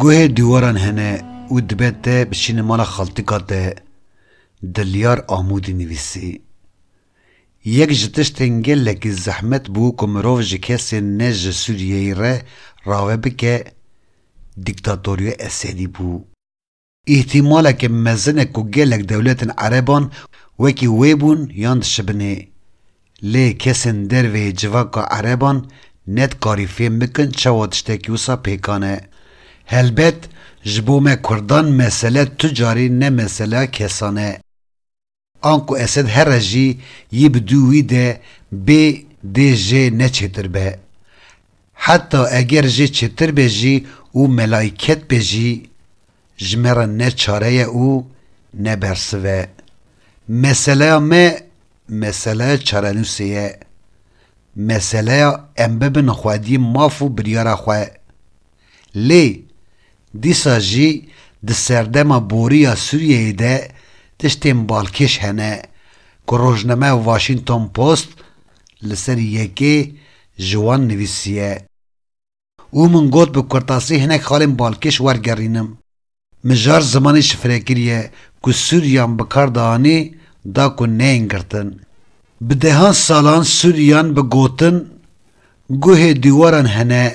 Guhê diwaran hene û dibe te biçînî mala xaltika te, Dilyar Amûdî nivîsî. Yek ji tiştên gelekî zehmet bû ku mirov ji kesên ne ji Sûriyeyê re rave bike, dîktatoriya Esedî bû. Îhtîmaleke mezin e ku gelek dewletên ereban wekî wê bûn yan dişibinê. Lê kesên dervê yê civaka ereban ne dikarî fêm bikin çawa tiştekî wisa pêkan e. Helbet ji bo me kurdan mesele tu carî ne meseleya kesan e. Anku Esed here jî yî bi dû wî de bê dê jê ne çêtir be. Heta eger jê çêtir be jî û melayket be jî ji me re ne çare ye û ne bersiv e. Meseleya me meseleya çarenûsê ye. Meseleya em bibin xwedî maf û biryara xwe. Lê dîsa jî di serdema borî ya Sûriyeyê de tiştên balkêş hene ku rojnameya Washington Post li ser yekê ji wan nivîsiye û min got bi kurtasî hinek xalên balkêş wergerînim. Mijar zimanê şifrekirî ye ku Sûrîyan bi kar dianê da ku neyên girtin. Bi dehan salan Sûrîyan bi gotin guhê dîwaran hene.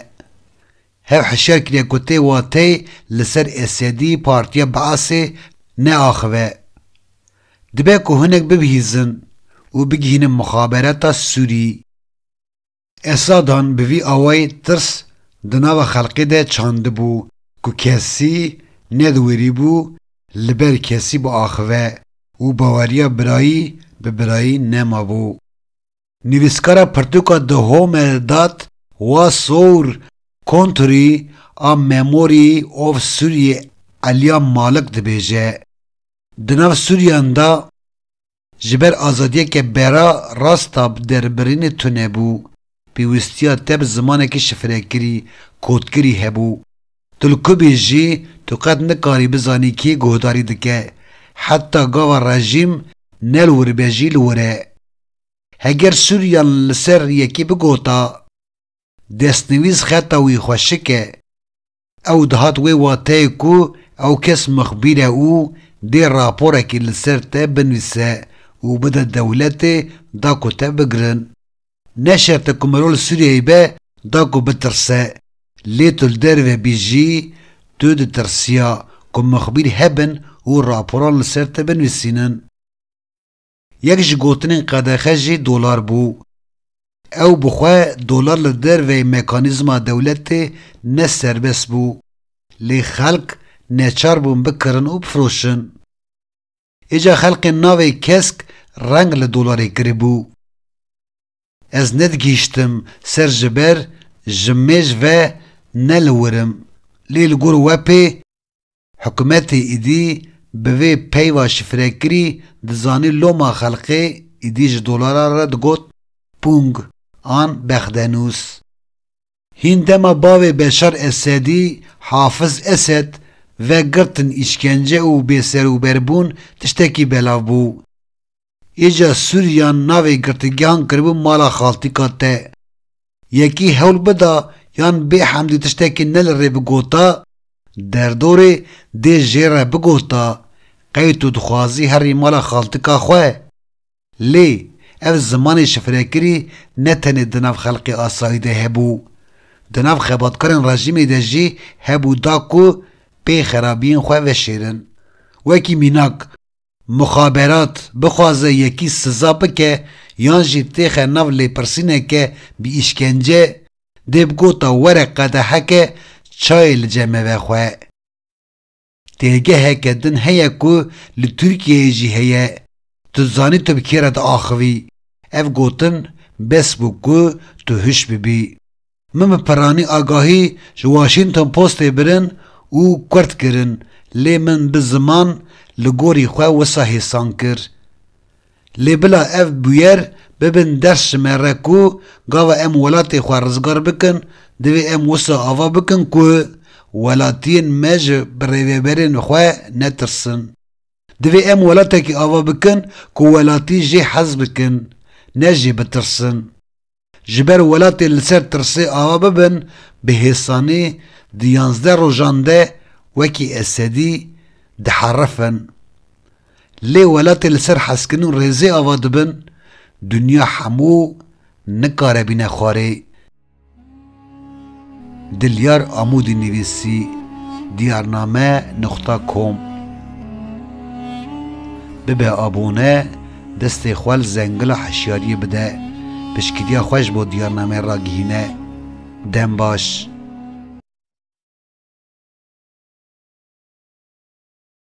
Hev hişyar kiriye ku tê wateyê li ser Esedî partiya Beasê neaxive. Dibe ku hinek bibihîzin û bigihînin muxabereta Sûrî. Esadan bi vî awayî tirs di nava xelkê de çandibû ku kesî nediwirîbû li ber kesî biaxive û baweriya birayî bi birayî nemabû. Nivîskara pirtûka The Home Eldad wa Sour Country a Memory of Sûriyê Elya Malik dibêje, Di nav Sûriyan de, Ji ber azadiyeke bera rast a bi derbirînê tune bû, pêwîstiya te bi zimanekî şifrekirî, kodkirî hebû. Tu li ku bî jî, tu qet nikarî bizanî kê guhdarî dike. Heta gava rejîm ne li wir be jî li wir e. Heger Sûriyan li ser yekê bigota, destnivîs xeta wî xweşik e. Ew dihat wê wateyê ku ew kes mixbîr e û dê raporekî li ser te binivîse û bide dewletê da ku te bigirin. Ne şert e ku mero li Sûriyeyê be da ku bitirse. Lê tu li derve bî jî tu ditirsiya ku mixbîr hebin û raporan li ser te binivîsînin. Yek ji gotinên qedexe jî dolar bû. Ew bi xwe dolar li derveyî mekanîzma dewletê ne serbest bû, lê xelk neçar bûn bikirin û bifiroşin. Êca xelkên navê kesk reng li dolarê kiribû. Ez nedigihîştim ser ji ber ji mêj ve ne li wir im, lê li gor we pê, Hikûmetê êdî bi vê peyva şifrekirî dizanî loma xelkê êdî ji dolara re digot pûng an bexdenûs. Hîn dema bavê Beşar Esedî, Hafiz Esed, ve girtin, îşkence û bêserûberbûn tiştekî belav bû. Hêja Sûriyan navê girtigehan kiribû mala xaltika te. Yekî hewl bida yan bê hemdî tiştekî ne li rê bigota, derdorê dê jê re bigota, qey tu dixwazî herî mala xaltika xwe? Lê, ev zimanê şifrekirî ne tenê di nav xelkê asayî de hebû. Di nav xebatkarên rejîmê de jî hebû da ku pê xerabiyên xwe veşêrin. Wekî mînak. Muxaberat bixwaze yekî siza bike yan jî têxe nav lêpirsîneke bi îşkence, dê bi gota were qedeheke çayê li ceme vexwe. Têgeheke din heye ku li Tirkiyeyê jî heye, tu dizanî tu bi kê re diaxivî, ev gotin bes bû ku tu huş bibî. Min bi peranî agahî ji Washington Postê birin û kurd kirin lê min bi ziman li gorî xwe wisa hêsan kir. Lê bila ev bûyer bibin ders ji me re ku gava em welatê xwe rizgar bikin divê em wisa ava bikin ku welatiyên me ji birêveberên xwe netirsin. Divê em welatekî ava bikin ku welatî jê hez bikin ne jê bitirsin. Ji ber welatê li ser tirsê ava bibin, bi hêsanî di yanzdeh rojan de wekî Esedî diherifin. Lê welatê li ser hezkirin û rêzê ava dibin, dinya hemû nikare bîne xwarê. Dilyar Amûdî nivîsî Diyarname nuqta kom Bibe abone destê xwe li zengila hişyariyê bide piştgiriya xwe ji bo Diyarname ragihîne Dem baş.